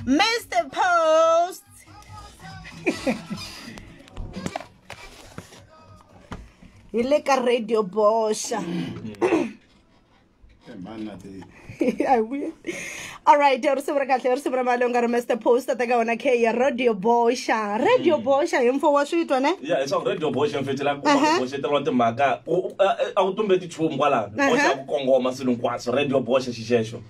Mr. Post. hi le ka radio boxa alright risimu ra kahle risimu ra mali u nga ri master post ta ka wona khe ya radio boxa radio mm. boxa hi mfo wa switwa ne ya leswaku radio boxa mfetela ku boxeteriwa timhaka a wu tumbeti nchumu kwalano boxa ku kongoma swilo hinkwaswo radio boxa xixexo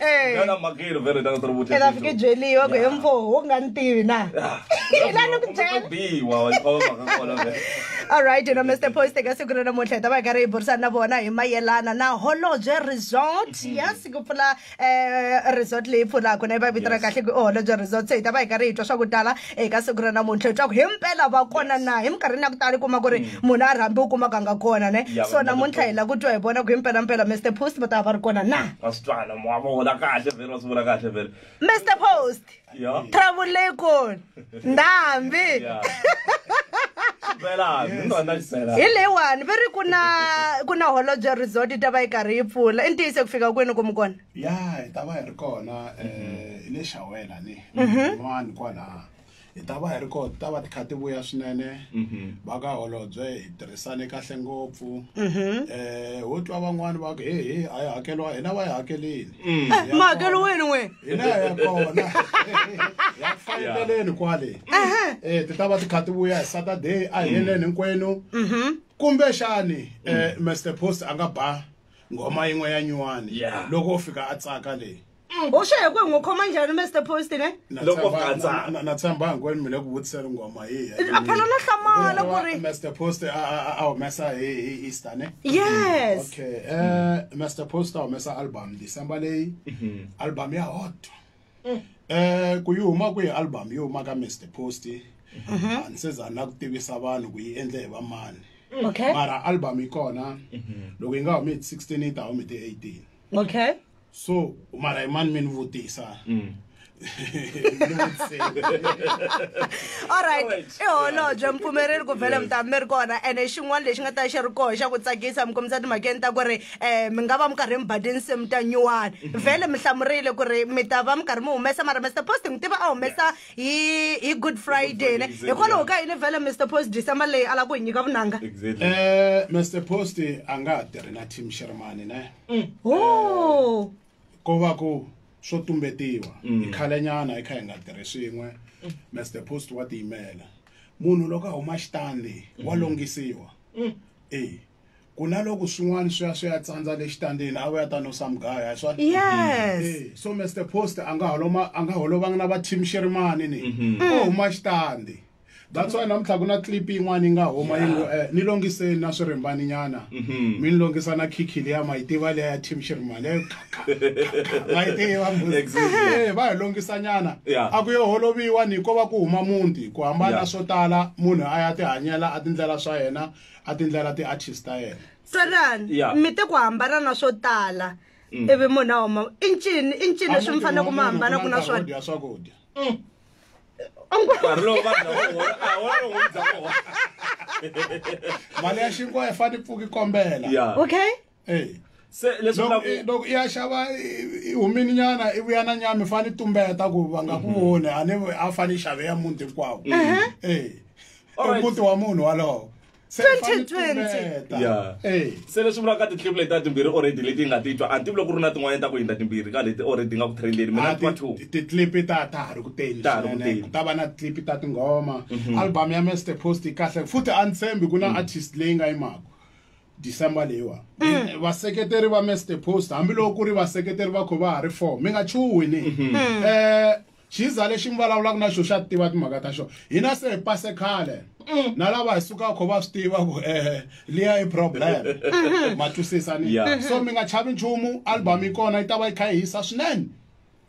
Eh. Ngana makiro vele tanga tro vutlisa. Ela fike jeli yo go emfo ho nga ntivi na. Ila no kujela. Bi wa wa ko ka kola vele. All right, you know Mr. Post ka siku rena mo tleta ba ka re bursa na bona hi mayelana na Holodge Resort. Mm-hmm. Yes, ku pfula eh resort leyi pfulaka na ba vitana kahle ku Holodge Resort. Se ta ba ka re itwa swa ku tala eka siku ra namuntlha leswaku hi mpela va kona na hi minkarhini ya ku tala kuma ku ri mm. munhu a rhambi u kumaka nga kona ne so namuntlha hi la ku twa hi vona ku hi mpelampela mr post va ta va ri kona na mr post trouble leyi kona ndhambi hi leyiwani va ri ku na ku na holobye resort yi ta va yi karhi yi pfula i ntiyiso ku fika kwini ku mi kona ya hi ta va hi ri kona um hi le xawela ni mhm. n'wani kwalaha hi ta va hi ri ko ta va ti kha ti vuya swinene mhm. va ka holobye hi tirhisane kahle ngopfu um ho twa van'wani va ku he he a yi hakeriwa hina va yi hakelini mm. eh, ma hakelo wena n'we hina ya kona ya faneleleni kwale um ti ta va ti kha ti vuya hi saturday a hi mm. heleni hinkwenu mhm. kumbexani um eh, mm. mr post a nga ba nghoma yin'we ya nyuwani loko u fika a tsaka leyi mm. u xeye ku hi n'wi khoma njhani mr post ne loko gatsana na tshembanga kwani mi le ku vutisela ngoma hi a phela na hlamala ku ri mr post a humesa hi hi easter ne yes okay eh mr post a humesa album december leyi mm-hmm. album ya hot mm. eh ku yi huma ku yi album yo huma ka mr post mm-hmm. a ni se za na ku tivisa vanhu ku yi endle hi vamani okay mara album yi kona mm-hmm. loko yi nga humi hi 16 yi ta humi hi 18 Mm. Okay. So, mara man men vutisa. Mm. alright i holobye mpfumereri ku vhele mi ta mi ri kona ene xin'wana lexi nga ta xi ri koho xa ku tsakisa mi kombisa timhakeni ta ku ri um mi nga va mi karhi mi bade nsimu ta nyuwani mhm. vhele mi hlamurile ku ri mi ta va mi karhi mi humesa mara mr posting tiva a humesa hi hi good friday ne hikwalaho ka yini vhele mr post december leyi a la ku hi nyika vunanga exactly eh mr post a nga ha tirhi na team shermani ne mm. o ko va ku swo tumbetiwa hi mm. khalenyana hi kha hi nga tirhi swin'we mr post wa tiyimela munhu loko a huma xitandi wa mm. longhisiwa e ku na loko swin'wana swi ya swi ya tsandza le xitandini a vuya ta no sa mugaya hi swona yes Eh, so mr post a nga holoma a nga holovanga na va team xerimani ni o huma xitandi that's why namuntlha ku na clip yin'wana yi nga huma yi ngo eh, ni longiseni na swirimbani nyana mi ni longisa na khikhi liya ma yi tiva liya ya team xerimani leyo ma yi tiva mbuzi. Exactly. Eh, va hi longisa nyana Yeah. a ku yo holoviwa ni ko va ku huma muti ku hambana Yeah. swo tala munhu a ya tihanyela a tindlela swa yena a tindlela ti artist ta yena tsalan yeah. mi te ku hambana na swo tala mm. ivi munhu a huma i ncini i ncini leswi mi fanele ku mi hambana ku na swona swakudya mm. nkarhi lowu vanhu mali ya xinkwa yi fane pfuki kombela okay eyi se leswi loko vulaka i- loko i ya xava i- i humini nyana i vuya na nyama i fane i tumbeta ku va nga ku voni a ni a fane i xave ya muti hinkwawo Eh. Alright. muti wa munhu walowo se i fane i 2020. tumbeta. Yeah. Eh. se leswi vulaka titlipu leti ta timbirhi already leti yi nga ti twa a ni tivi loko ku ri na tin'wanyana ta ku hindza timbirhi ka leti already nga ku trendeni mina ni twa two titlipi ta ta ha ri ku teni Ta ha ri ku swinene. teni. ku ta va na titlipi ta tinghoma album ya mester post yi kahle futhi a ni tshembi ku na artist leyi nga yimaka December leyiwa mm. vaseketeri va Mr Post hambiloko ku ri vaseketeri va kho va ha ri four mi nga chuhi ni mm-hmm. mm. eh xiza lexi mi vulavulaka na xo xa tiva timhaka ta xona hina se hi pase khale mm. na lava hi sukaka kho va swi tiva ku eh liya i problem mm-hmm. ma twisisa ni so mi nga chavi nchumu album yi kona yi ta va yi kha yi hisa swinene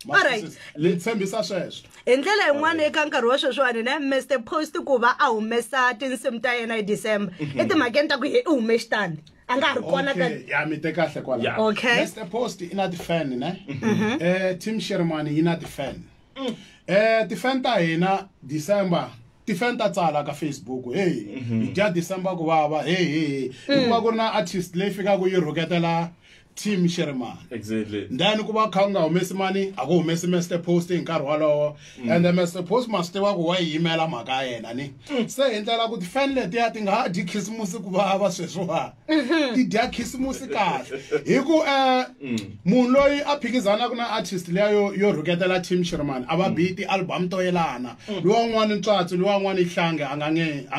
alright ni tshembisa sweswo hi ndlela yin'wana eka nkarhi wa sweswiwani ne mr post ku va a humesa tinsimu ta yena hi december mhm. etimhakeni ta ku ye i hume xitandi a nga ha ri kona ka ya mi te kahle kwala okay mr post i na ti-fan ne mhm. eh team shermani yi na ti-fan mm. eh ti-fan ta hina december tifan ta tsala ka facebook heyi mhm. hi dya december ku vava heyi heyi mm. hikuva ku ri na artist leyi fikaka yi rhuketela team sheremani exactly then ku va kha u nga humesi mani a ku humesi master post hi nkarhi wolowo mm. and the master post ma swi tiva ku wa yi yimela mhaka ya yena ni mm. se hi ndlela ku tifan letiya ti nga ha dyi khisimusi ku vava sweswiwa mm-hmm. ti dya khisimusi kahle hi ku um mm. munhu loyi a phikizanaka na artist leya yo yo rhuketela team sherman a va mm. biyi ti-album to yelana mm. lowa n'wana ntswatsi lowa n'wana ihlange a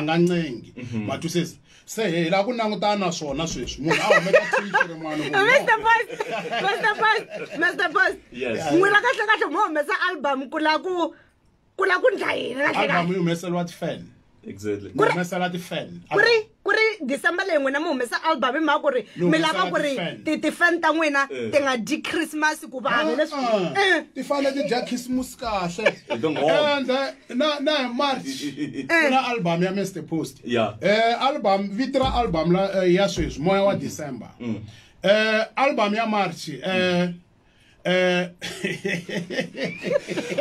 nga ncengi mm-hmm. matwisisa se hi la ku langutana na swona sweswi munhu a humeka tixiri mwana Mr. Boss Mr. Boss Mr. Boss n'wina kahle kahle mo humesa album ku la ku ku la ku ndla yini kahle album kahle yi humeseriwa ti-fan exactly Ku ri- humesela ti-fan ku ri ku ri december leyi n'wina mi humesa album hi mhaka ku ri Mi mi lava humesela ku ri ti-fan. ti- ti-fan ta n'wina Eh. ti nga dyi christmas ku vanhu leswi Ah, Eh, ti fanele ti dya khisimusi kahle Hi tinghoma. and eh, na na hi march Eh. ku na album ya mr post Yeah. eh album vito ra album la eh, ya sweswi moya wa december eh album ya march eh Uh,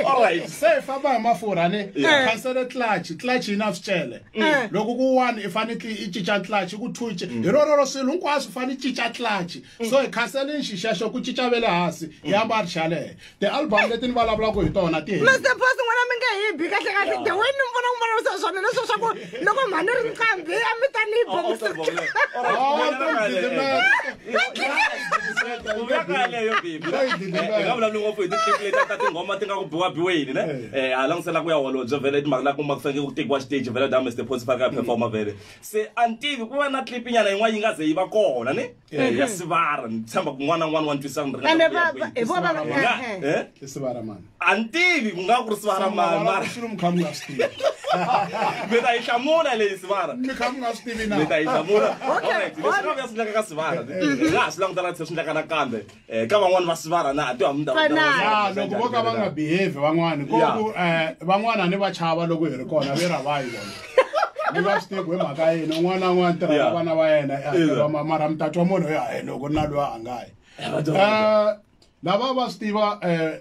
all right se hi famba hi mafurha ni khansele tlachi tlachi yi na swicele mm. loko ku one i fanekele i cinca tlachi ku two mm. hi rororo swilo hinkwaswo fane i cinca tlachi mm. so hi khansele nxixexo ku cinca ve le hansi hi yamba ri xalehe ti-album leti ni vulavulaka hi tona ti mr pos n'wana mi nge hi bi kahle kahle the way ni mi vona n'wi vulavurisa swona leswo swa ku loko mhani ri nqambi a mi ta ni boxivulavulavuli ngopfu hi titlekileti ta tinghoma ti nga ku biwa biweni ne eh. a langutisela ku ya holobye vele timhaka la kuma ku fanekele ku tekiwa xiteji vele da mr posifa ka performa vele se a ni tivi ku va na clip nyana yin'wana yi nga ze yi va kona ne eh, mhm. ya sivara ni tshemba ku n'wana n'wana wa ntwisana ni ringana ku ya kwihi. Ku nga- eh, eh? i sivara mani a ni tivi ku nga ku ri sivara mani mara xilo mi kha mi nga swi tivi mi ta yi hlamula leyi sivara mi kha mi nga swi tivi na mi ta yi hlamula Okay, Alright, leswi nga swi endlaka ka sivara hi nga ha swi langutana tlhe swi endlaka nakambe eh ka van'wana va sivara na ti hamu ta Fana. ya loko vo ka va nga behave van'wani ko Yeah. ku eh, van'wana ni va chava loko hi ri kona ve ra vayi vona ni va swi tivi ku hi mhaka yini un'wana na un'wana tirha na Yeah. vana va yena eh, Ina. va ma- mara mutati wa munhu ya hi loko na loyi a nga yi Eh, lava va swi tiva eh,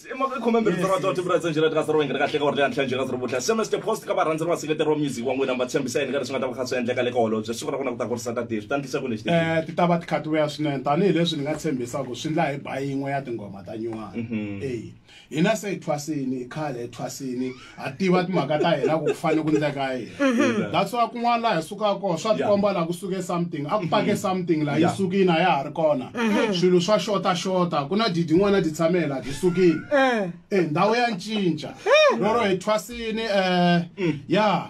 i mhaka yi khome mbirhi ndzi rhandza timbilu ndzi njhela tika sirowenge tika hleka orleya ntlha njhela sirobutla se mr post ka varhandzeri va seketeri wa music wa n'wina mi va tshembisa yini ka leswi nga ta va kha swi endleka le ka holobye siku ra kona ku ta kurisa ta tivi swi ta ndlisa ku lexi um ti ta va ti khatiweya swinene tanihileswi ni nga tshembisa ku swi ndla hi ba yin'we ya tinghoma ta nyuwana e hina se hi thwasini khale hi thwasini ha tiva timhaka ta hina ku ku fanele ku ndleka yini mm-hmm. that's why kun'wana laha hi sukaka kona swa tikomba laha ku suke something a ku mm-hmm. pake something laha yi sukini a ya ha ri kona mm-hmm. swilo swa xota xota ku na didi n'wana ti tshame laha ti sukini eh. eh ndhawu ya ncinca eh. roro hi thwasini um ya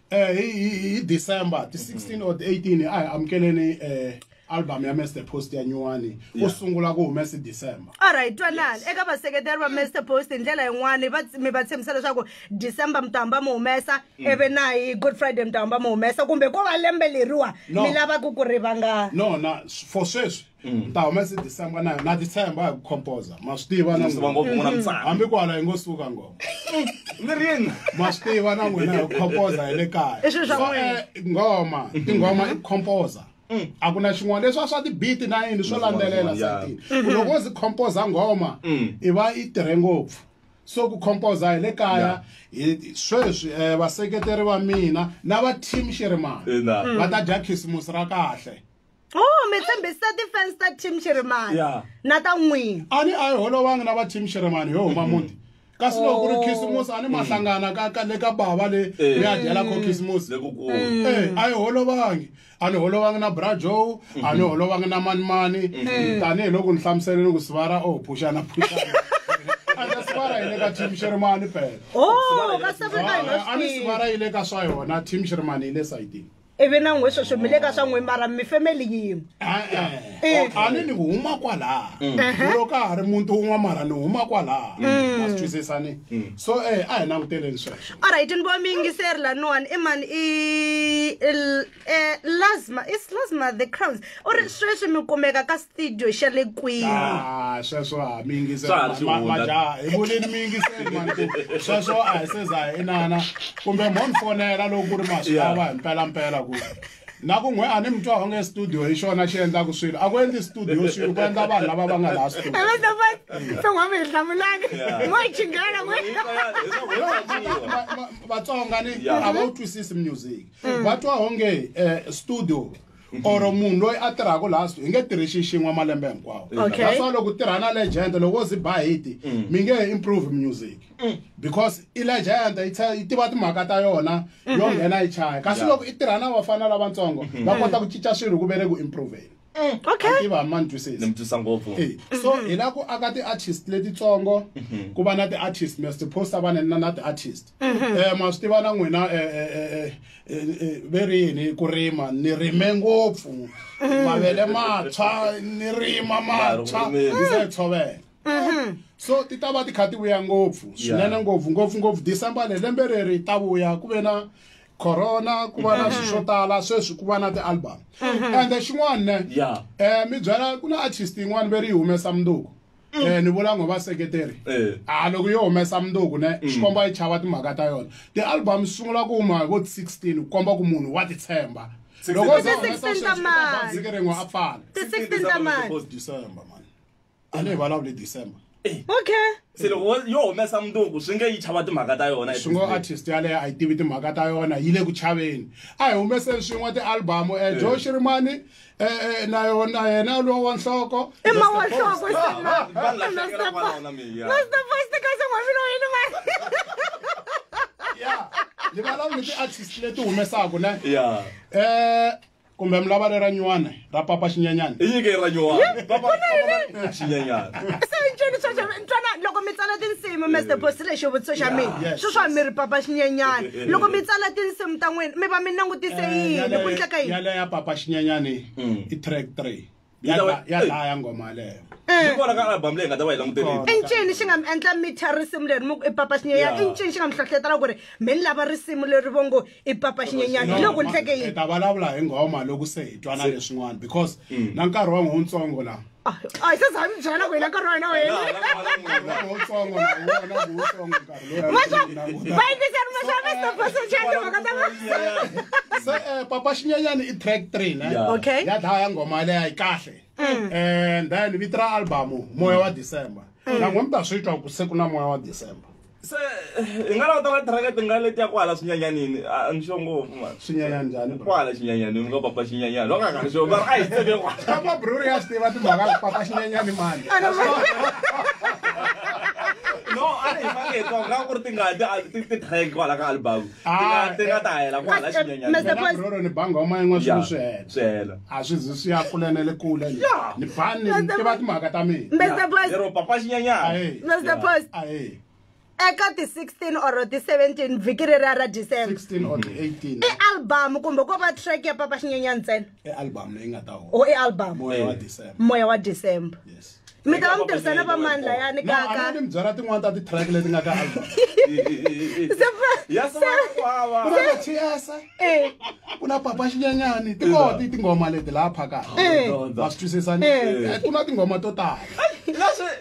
eh hi December ti 16 or 18 a hi amukeleni eh album ya Mr Post ya nyuwani u sungula ku humesa December all right twanani eka vaseketeri va Mr Post hi ndlela yin'wana va mi va tshembisa leswaku December mutamba mu humesa mm. eve na hi Good Friday mutamba mu humesa kumbe ko va lembe leriwa mi lava ku ku rivanga no na for sweswi Mm. ta huma si december na na december ya ku composer ma swi tiva na hambi ku hala yi ngo suka ngoma lirini ma swi tiva na n'wina ya ku composer hi le kaya eh, ngoma tinghoma i composer mm. a ku na xin'wana leswi a swa ti-beat na yini swo landzelela satini mm-hmm. loko wo zi composer ngoma mm. i va i tirhe ngopfu so ku composer hi le kaya sweswi um vaseketeri va mina na va team xirimani va ta dya khisimusi ra kahle Oh, mi tshembisa defense ta team Shirimani. Yeah. Na ta n'wini. A ni a yi holovangi na va team Shirimani yo huma muti. kasi loko ku ri oh. khisimusi a ni ma mm. hlangana ka ka le ka bava le eh. mi ya dyela kho khisimusi mm. eh, a yi holovangi a ni holovangi na bra joe a ni mm. holovangi na manimani mm-hmm. tanihi loko ni hlamuseleni ku sivara o oh, phuxana phuxana sivara yi le ka team xerimani pela oh, a ni sivara yi le ka swa yona team xerimani yi le sayitini ivi na n'we sweswi mi le ka swa n'we mara mi family yin'we Eh. a ni ni huma kwalaha Ehe. loko a ha ri muti wun'wa mara ni huma kwalaha ma swi twisisani so eh a hi languteleni sweswo alright ni vo mi yingiseri laniwani i mani i il- eh, lasma is lasma the crowns u ri sweswi mi kumeka ka studio xa le kwihi ah, sweswo ha mi yingisemajaha hi voneni mi yingiseli mani ku sweswo a hi seza hi inana kumbe mo ni fonela loko ku ri maswi lawa hi mpelampela ku na ku n'we a ni mi twa onge studio hi xona xi endlaka swilo a ku endli studio swilo ku endla vanhu lava va nga laha studioton'wami hi hlamulani mo chingela vatsonga ni a va wu twisisi music va twa onge eh, studio or munhu loyi a tirhaka laha hi nge tirhi xi xin'we malembe hinkwawo Okay. that's why loko u tirha na legend loko wo zi ba hiti mi nge he improve music because i legend yi tshe- yi tiva timhaka ta yona yo nghena yi chaya kasi Yeah. loko i tirha na vafana lavatsongo va kota ku cinca swilo ku ve le ku improveni okay tiva ma ni twisisi mi twisa ngopfu Eh, so hi la ku aka ti-artist letitsongo ku va na ti-artist mi siphosta vaneni na na ti-artist mhm. eh ma swi tiva na n'wina eh, eh, eh, ve ri yini ku rima ni rime ngopfu mhm. mavele matshwa ni rima matshwa ni se tshovela mhm. so ti ta va ti kha ti vuya ngopfu swinene ngopfu ngopfu ngopfu december le lembe reri ta vuya ku ve na corona ku va na swilo swo tala sweswi ku va na ti-album ende xin'wana ne um mi byela ku na artist yin'wana ve ri yi humesa munduku Mm. eh ni vula ngo va seketeri eh. a ah, loko yo humesa munduku ne mm. xikomba yi chava timhaka ta yona ti-album swi sungula ku huma hi vo 16 ku komba ku munhu wa titshemba loko se humesa sweswiike rin'we a pfala a ni hi vulavuli december eh. okay se loko yo humesa munduku swi nge yi chava timhaka ta yona swi ngo artist yaleyo a yi tivi timhaka ta yona yi le ku chaveni a hi humeseni swin'we ti-album um eh, joe xirimani Eh, eh, na yona yena lowo wa nhloko i ma wa nhloko ni valava ni ti-artist leti humesaka ne um eh, kumbe mi lava lera nywana ra papa xinyanyana i nyike ra nywanaanceni loko mi tsala tinsimu mr bosi lexi vutiso xa mina swi swa mi ri papa xinyanyana loko mi tsala tinsimu ta n'wina mi va mi langutise eh, yini ku ndleka yini yaleyo ya papa xinyanyani mm. i track three ya dlaya ngoma yaleyo eh. kona ka album leyi nga ta va yi languterile i ncini xi nga mi endla mi thya risimu leri mi i papa xinyenyana i ncini xi nga mi hlohletela ku ri mi ni lava risimu leri vo ngo i papa xinyenyana hi loko ni hleke yini ta vulavula hi nghoma loko se hi twana leswin'wana because mm. na nkarhi wa n'wi wutsongo laha a yi se za mi byela ku hina nkarhi wa hina wu helivayingiseri mashamestoposochandimhaka ta se eh, papa xinyanyani i track three ne okay ya dlaya ya nghoma yaleya yi kahle mm. and then vito ra albamu moya wa december mm. nan'we mi ta swi twa ku se ku na moya wa december se hi nga languta na tracket nga leti ya kwala swinyanyanini a ni xo ngopfu mani swinyanya njhani bro kwala xinyanyanini nga papa xinyanyani va nga nga ni xo va ri a hi tseke kwala kama bruri ya swi tiva timhaka ku papa xinyanyani mani no a ri hi fanele hi twa nga ku ri tingati a ti ti track kwala ka album Ah, ti nga ta hela ku hala xinyenyanabroro ni banga uma yin'we swilo swi hela swi hela a swi zi swi ya kule na le kule ni bani ni tiva timhaka ta minalero papa xinyenyana mr post eka ti-16 or ti-17 vhiki ri ra ra december i album kumbe ko va track ya papa xinyenyana ntsena i album leyi nga ta o i album moya wa december moya wa december yes mi ta va mi tirhisana va mani layani kaka ni mi byela tin'wana ta ti-track leti nga ka album ku na papa xinyanyani ti koho ti tinghoma leti laha phakaka ma swi twisisani ku na tinghoma to tala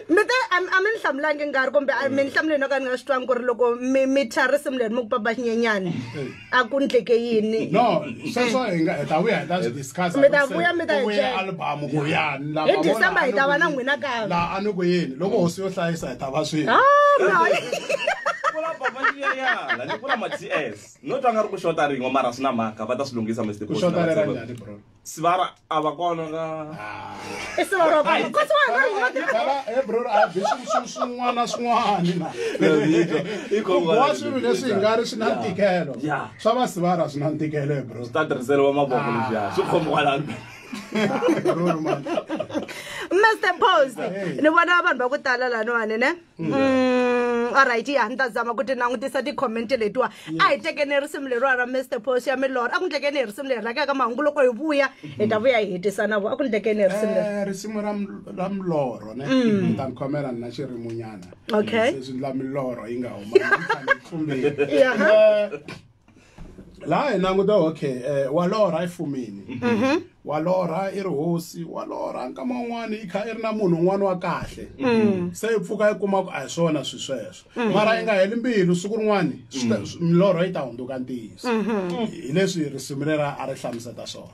mi te a mi ni hlamulangi nkarhi kumbe mi ni hlamuleni no ka ni nga swi twangi ku ri loko mi mi tshwa risimu leri mi ku papa xinyanyani a ku ndleke yini no sweswo hi nga hi ta vuya hi ta swi discuss mi ta vuya mi ta vuya album ku yani la hi december hi ta va na n'wina ka la a ni ku yini loko hosi yo hlayisa hi ta va swini ah, no twa nga ri ku xota rin'we mara swi na mhaka va ta swi lunghisa mr sivara a va kona ka sivara va ko sivara eh bro a bi swin'wana swin'wana na wa swilo leswi nga ri swi na ntikelo swa va sivara swi na ntikelo eh, bro swi ta tirhiseriwa mavoko leswiya swi khomi kwalani Mr. Post, ni vona vanhu va ku tala laniwani ne? Mm, alright ya ni ta zama ku ti langutisa ti-comment letiwa a hi tekeni hi risimu leriwa ra mr pos ya milorho a ku ndlekeni hi risimu leri rakaka mahungu loko hi vuya hi ta vuya hi hetisa na vo a ku ndlekeni hi risimu leri Eh, risimu ra m- ra milorho ne ni ta ni khomela ni na xirimunyana Okay. se swi ndla milorho yi nga huma Ni fanele ni tlumbile. Yeah. Eh, laha hi languta okay um wa lorha i fumini mhm. wa lorha i ri hosi wa lorha nkama wun'wana yi kha i ri na munhu un'wana wa kahle mm. se yi pfuka yi kuma ku a hi swona swi sweswo mm. mara yi nga heli mbilu siku rin'wana mm. milorho yi ta hundzuka ntiyiso mhm. hi leswi risimu rera a ri hlamuseta swona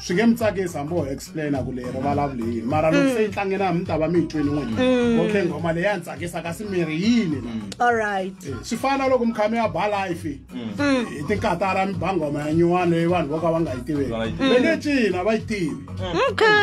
swi nge mi tsakisi hambi ho explaina ku leyi rivalavuli yini mara loko se yi tlangela mi ta va mi yi twini n'wini okay nghoma leyi ya ni tsakisa kasi mi ri yini la all right Eh, swi fana loko mi kha mi ya ba life hi tinkatara mi ba nghoma ya nyuwani leyi vanhu vo ka va nga yi tiveki Vona yi tiveki. le le cina va yi tivi okay